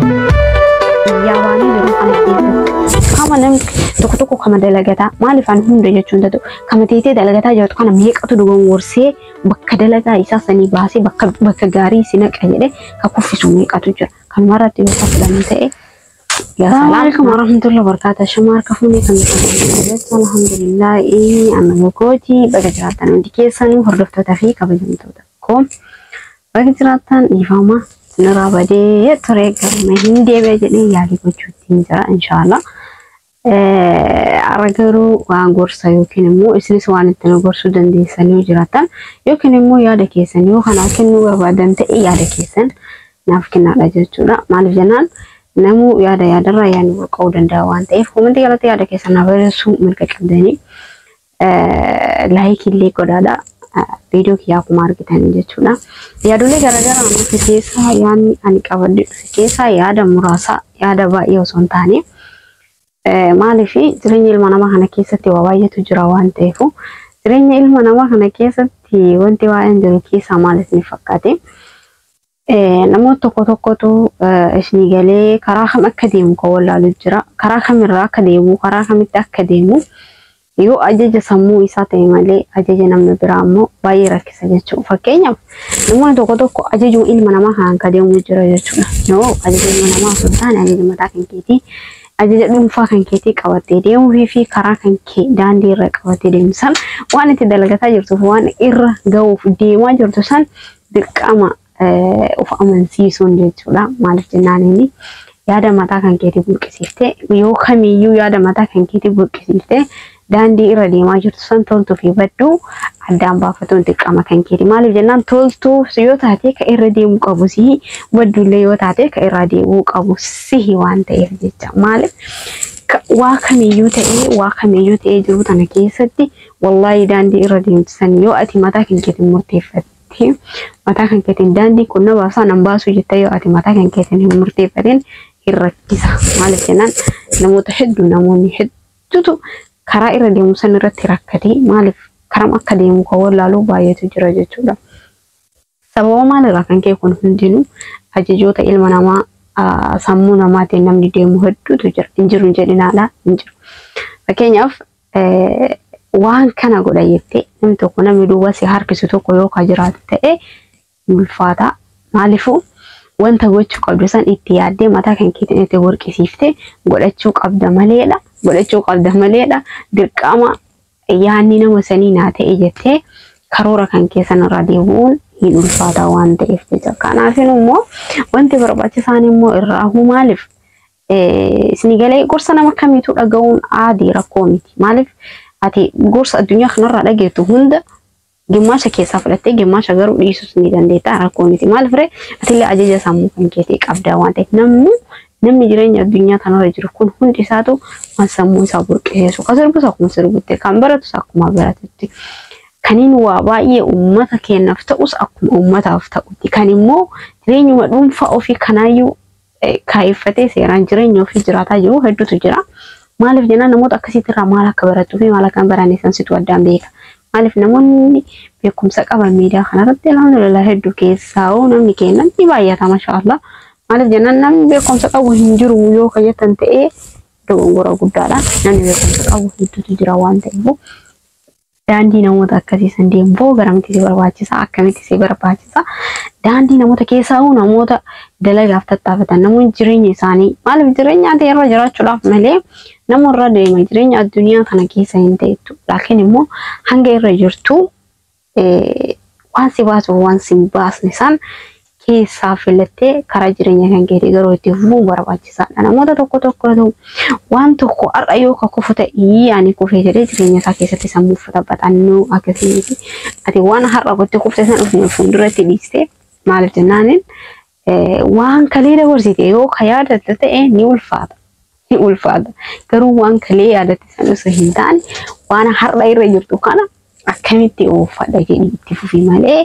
biyyaa baanee yeroo kana keessatti kama namni tokko tokko kama dalagataa maaliif ani hunda jechuun tatu kama teetee dalagataa jirtu kana meeqatu dogongorsee bakka dalagaa isaa sanii baasee bakka bakka gaarii si naqa jedhee ka kuffisu meeqatu jira kanumarratti yoo fudhannu ta'e Assalamualaikum warahmatullahi wabarakatuh. Shama harka fuunee kan jirtu alhamdulillah ee amma gogooti baga jiraattan hundi keessanii hordoftoota fi kabajamtoota koo baga jiraattan dhiifama sinirraa badee ture galma hin deebi'a jedhee yaalii gochuutti ni jira inshaallah. Ara garuu waan gorsa yookiin immoo isinis waan itti nu gorsuu dandeessan yoo jiraatan yookiin immoo yaada keessan yoo kanaa kennuu barbaadan ta'e yaada keessan naaf kennaadha jechuudha. Maaliif jennaan namuu yaada yaadarraa yaadni burqa'uu danda'a waan ta'eef komentii jalatti yaada keessan naaf barreessuu mirga qabdanii. laayik illee godhaadha. Viidiyoo kiyyaa akkuma argitan jechuudha. Yaadolee garaagaraa nuti keessaa yaadni ani qabadde dhufe keessaa yaada muraasa yaada baay'ee osoo hin taane maaliif jireenya ilma namaa kana keessatti waa baay'eetu jira waan ta'eef jireenya ilma namaa kana keessatti wanti baay'een jiru keessaa maal isin fakkaate Namoota tokko tokkotu isinii galee karaa kam akka deemu kan wallaalu jira. Karaa kamirraa akka deemu, karaa kamitti akka deemu yoo ajaja sammuu isaa ta'e malee ajaja namni biraa immoo baay'ee rakkisa jechuudha. Fakkeenyaaf namoonni tokko tokko ajajuu ilma namaa kanaan kan deemu jira jechuudha. Yoo ajaja ilma namaa osoo hin taane ajaja mataa kan keetii ajaja dhuunfaa kan keetii qabattee deemuu fi karaa kan kee daandii irra qabattee deemu san waan itti dalagataa jirtuuf waan irra ga'uuf deemaa jirtu san dirqama of amansiisuun jechuudha. Maaliif jennaan inni yaada mataa kan keetii burqisiiftee yoo kamiyyuu yaada mataa kan keetii burqisiiftee daandii irra deemaa jirtu san toltuu fi badduu addaan baafatuun dirqama kan keeti. Maaliif jennaan toltuu yoo taate ka irra deemuu qabu sihi badduullee yoo taate ka irraa deebi'uu qabu sihi waan ta'eef jecha. Maaliif waa kamiyyuu ta'ee waa kamiyyuu ta'ee jiru tana keessatti Wallaahi daandii irra deemtu san yoo ati mataa kan keetiin murteeffatte mataa kan keetiin daandii kun na baasaa nan baasuu jetta yoo ati mataa kan keetiin hin murteeffatin hin rakkisa. Maaliif jennaan namoota hedduu namoonni hedduutu karaa irra deemu san irratti rakkatee maaliif karam akka deemu kan wallaaluu baay'eetu jira jechuudha. Sababa maal irraa kan ka'e kun hundinuu ajajoota ilma namaa sammuu namaatiin namni deemu hedduutu jira. Hin jiru hin jedhinaadha hin jiru. Fakkeenyaaf waan kana godha jettee namni tokko namni duuba si harkisu tokko yoo ka jiraatu ta'e hin ulfaata. Maaliifuu wanta gochuu qabdu san itti yaaddee mataa kan keetiin itti burqisiiftee godhachuu qabda maleedha. Godhachuu qabda maleedha. Dirqama Yaanni nama sanii naa ta'e jettee karoora kan keessan irraa deebi'uun hin ulfaataa waan ta'eef jecha. Kanaafin immoo wanti barbaachisaan immoo irraa huu maaliif isinii galee gorsa nama kamiitu dhaga'uun aadii rakkoo miti. Maaliif ati gorsa addunyaa kanarraa dhageettu hunda Gimmaasha keessaa fudhattee gimmaasha garuu dhiisus ni dandeetta rakkoo miti. Maal fire atillee ajaja sammuu kan keetii qabdaa waan ta'eef namni namni jireenya addunyaa kanarra jiru kun hundi isaatu waan sammuu isaa burqiseessu kan sirbus akkuma sirbutti kan baratus akkuma baratutti kaniin waa baay'ee uummata keenyaaf ta'us akkuma uummataaf ta'utti kan immoo jireenyuma dhuunfaa ofii kanaayyuu kaayeffatee seeraan jireenya ofii jiraataa jiru hedduutu jira. Maaliif jennaan namoota akkasiitti irraa maal akka barattuu fi maal akka hin baranne san situ addaan beeka. Maaliif namoonni beekumsa qaban miidiyaa kanarratti alhamdulillah hedduu keessaa hoo namni keennan ni baay'ata mashaallah. Maaliif jennaan namni beekumsa qabu hin jiru yoo ka jettan ta'ee dogongora guddaadha. Namni beekumsa qabu hedduutu jira waan ta'eef. Daandii namoota akkasii san deemuu garamti si barbaachisa akkamitti si barbaachisa daandii namoota keessaa hoo namoota dalagaaf tattaafatan namoonni jireenya isaanii maaliif jireenya ati irra jiraachuudhaaf malee nama irra deema jireenya addunyaa kana keessa hin ta'ettu laakiin immoo hanga irra jirtu waan si baasuuf waan si hin baasne san keessaa filattee karaa jireenya kan keetii garuu itti fufuu barbaachisaadha. Namoota tokko tokkotu waan tokko har'a yoo ka kufu ta'ii ani kufee jedhee jireenya isaa keessatti sammuu uffata baxannoo akkasii miti. Ati waan har'a gotti kufte sana ofuma fuulduratti dhiiste maaliif jennaaniin waan kalee dabarsite yoo ka yaadatte ta'e ni ulfaata. ni ulfaata. Garuu waan kalee yaadatte san osoo hin taane waan har'a irra jirtu kana akkamitti ooffadha jedhi itti fufi malee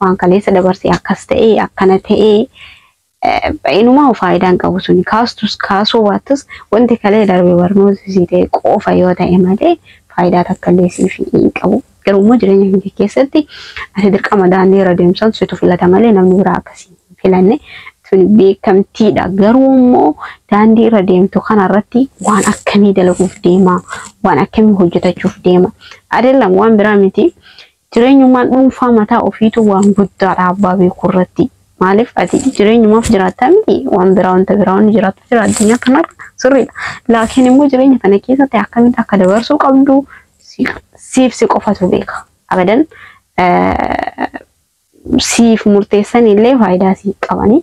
waan kaleessa dabarsee akkas ta'ee akkana ta'ee eh, ba'inumaa faayidaa hin qabu suni kaastus kaasuu baattus wanti kalee darbe barnoota sii ta'e qofa yoo ta'e malee faayidaa takka illee siif hin qabu. Garuu immoo jireenya kee keessatti ati dirqama daandii irra deemsan situ filata malee namni biraa akkasii hin filanne tuni beekamtiidha. Garuu immoo daandii irra deemtu kana irratti waan akkamii dalaguuf deema waan akkamii hojjetachuuf deema adeellam waan biraa miti jireenyummaan dhuunfaa mataa ofiitu waan guddaadha abbaa beekuu irratti maaliif ati jireenyumaaf jiraattaa miti waan biraa wanta biraa wanni jiraattu jira addunyaa kanarra sirriidha laakiin immoo jireenya kana keessatti akkamitti akka dabarsuu qabdu siif si qofatu beeka abadan siif murteessan illee faayidaa siif qabanii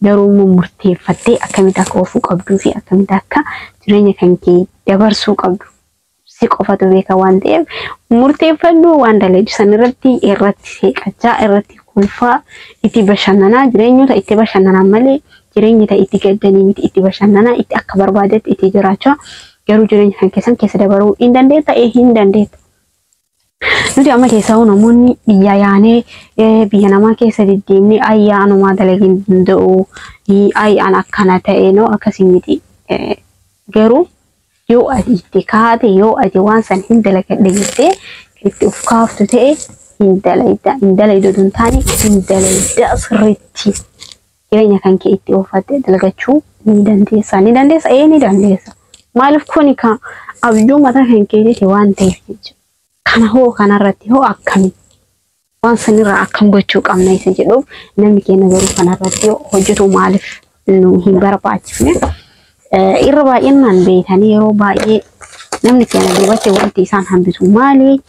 garuu immoo murteeffattee akkamitti akka ofuu qabduu fi akkamitti akka jireenya kan kee dabarsuu qabdu si qofatu beeka waan ta'eef murteeffadhu waan daleedu san irratti irratti seeqachaa irratti kolfaa itti bashannanaa jireenyota itti bashannanaa malee jireenya ta'e itti gaddanii miti itti bashannanaa itti akka barbaadetti itti jiraachaa garuu jireenya kan keessan keessa dabaruu hin dandeetta ee hin dandeetta. Nuti amma keessaa namoonni biyya yaanee biyya namaa keessa deddeemnee ayyaa anumaa dalagin danda'u ayyi an akkana ta'e noo akkasii miti garuu yoo ati itti kaate yoo ati waan san hin dalagadhe jettee itti of kaaftu ta'e hin dalayda hin dalayda oduu hin taane hin dalayda sirriitti. jireenya kan kee itti oofattee dalagachuu ni dandeessa. Ni dandeessa? Ee ni dandeessa. Maaliif kuni ka abjuu mataa kan keetiiti waan ta'eef jechuudha. Kana hoo kanarratti hoo akkami? Waan sanirraa akkam gochuu qabna isa jedhuuf namni keenya garuu kanarratti yoo hojjetu maaliif nu hin barbaachifne? Eh, Irra baay'inaan beekanii yeroo baay'ee namni keenya duubatti wanti isaan hambisu maali?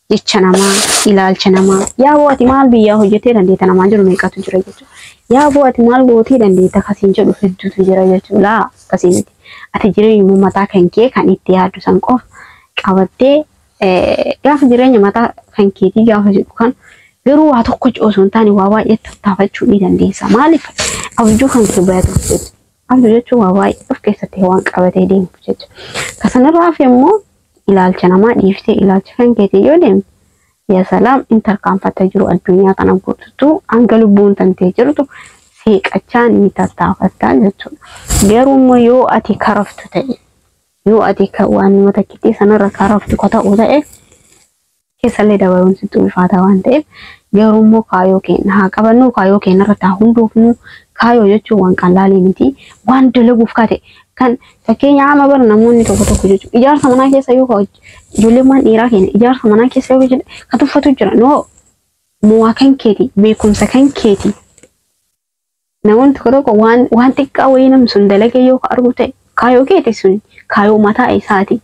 jecha namaa, ilaalcha namaa. Yaa boo ati maal biyyaa hojjetee dandeetta namaan jiru meeqatu jira jechuudha. Yaa boo ati maal gootee dandeetta kasiin jedhu hedduutu jira jechuudha. Laa akkasii miti. Ati jireenyuma mataa kan kee kan itti yaaddu san qofa qabattee eh, gaafa jireenya mataa kan keetii gaafa jedhu kan garuu waa tokko osoo hin taane waa baay'ee tattaafachuu ni dandeessa. Maaliif abjuu kan kee bayatu Amala jechuun waa baay'ee of keessatti waan qabatee deemuuf jecha. Ka sanarraa hafe immoo ilaalcha namaa dhiiftee ilaalcha kan keetiin yoo deemte yaa salaam in tarkaanfatta jiru addunyaa kana guututu hanga lubbuun tantee jirtu seeqachaa ni tattaafattaa jechuudha. Garuu immoo yoo ati karaftu ta'e yoo ati ka waanuma takkittii sanarra karaftu ka ta'u ta'e keessallee dabaruun sitti ulfaataa waan ta'eef garuu immoo kaayoo keenya haa qabannuu kaayoo keenya irratti haa hundoofnu kaayoo jechuun waan qallaalii miti waan dalaguuf kate kan fakkeenya amma bara namoonni tokko tokko jechuun ijaarsa manaa keessa yoo hoj- ijoolleen waan dhiiraa keenya ijaarsa manaa keessa yoo hojjete kan tuffatu jira noo moo'aa kan keeti beekumsa kan keeti Namoonni tokko tokko waan waan xiqqaa wayii namni sun dalagee yoo ka argu ta'e kaayoo keeti sun kaayoo mataa isaati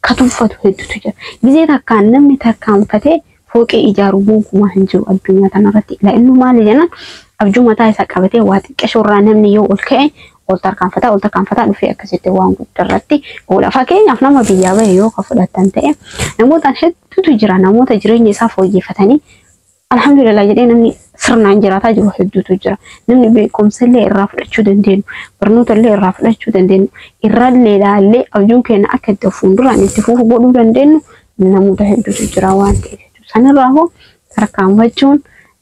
ka tuffatu hedduutu jira. Gizee takkaan namni tarkaanfatee fooqii ijaaru gonkumaa hin jiru addunyaa tanarratti. Ilaa inni maali jennaan abjuu mataa isaa qabatee waa xiqqashoo irraa namni yoo ol ka'e ol tarkaanfataa ol tarkaanfataa dhufee akkasitti waan guddaa irratti oola. Fakkeenyaaf nama biyyaa bahe yoo ka fudhattan ta'e namootaan hedduutu jira namoota jireenya isaa fooyyeffatanii Alhamdulillah jedhee namni sirnaan jiraataa jiru hedduutu jira. Namni beekumsa illee irraa fudhachuu dandeenyu, barnoota illee irraa fudhachuu dandeenyu, irrallee ilaallee abjuun keenya akka itti fuulduraan itti fufu godhuu dandeenyu namoota hedduutu jira waan ta'eef jechuudha. Sanirraa hoo tarkaanfachuun,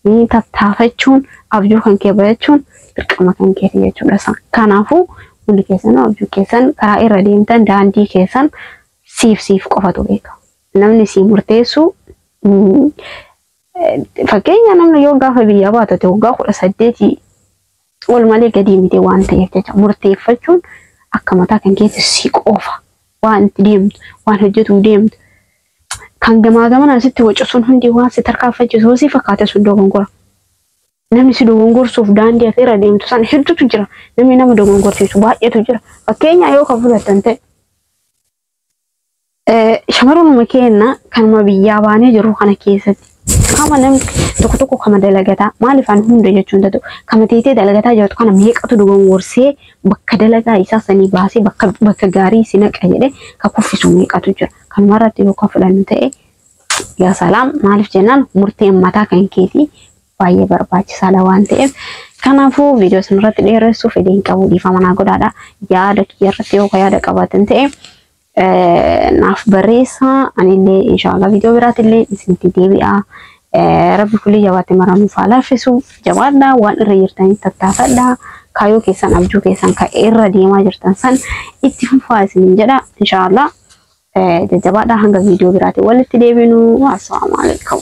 eh, tattaafachuun, abjuu kan kee bayachuun dirqama kan keeti jechuudha. Sa- Kanaafuu hundi keessanuu abjuu keessan karaa irra deemtan daandii keessan siif siif qofatu beeka. Namni sii murteessu Fakkeenya namni yoo gaafa biyyaa baatate waggaa kudha saddeetii ol malee gadii miti waan ta'eef jecha murteeffachuun akka mataa kan keessa si qofa waan itti deemtu waan hojjetuu deemtu kan gamaa gamanaan sitti wacu sun hundi waan si tarkaanfachiisu si fakkaate sun dogongora. Namni si dogongorsuuf daandii ati irra deemtu san hedduutu jira. Namni nama dogongorsiisu baay'eetu jira. Fakkeenya yoo kan fudhatan ta'e Shamaruma keenya kanuma biyyaa baanee jiru kana keessatti kama namni tokko tokko kama dalagataa maaliif ani hunda jechuu hin danda'u kama teetee dalagataa jirtu kana meeqatu dogongorsee bakka dalagaa isaa sanii baasee bakka bakka gaarii si naqa jedhee ka kuffisu meeqatu jira kanuma irratti yoo ka fudhannu ta'e yaa salaam maaliif jennaan murteen mataa kan keetii baay'ee barbaachisaadha waan ta'eef kanaafuu viidiyoo isin irratti dheeressuuf fedhiin qabu dhiifama naa godhaadha yaada kiyya irratti yoo yaada qabaatan ta'e naaf barreessaa anillee inshaallah viidiyoo biraatillee isinitti deebi'aa rabbi kulii jabaatti maramuuf haa laaffisu jabaadha waan irra jirtanii tattaafadha kaayoo keessan abjuu keessan ka irra deemaa jirtan san itti fufaa isinin jedha inshaallah Jajjabaadhaa hanga viidiyoo biraatiin walitti deebinu. Assalaamu alaikum.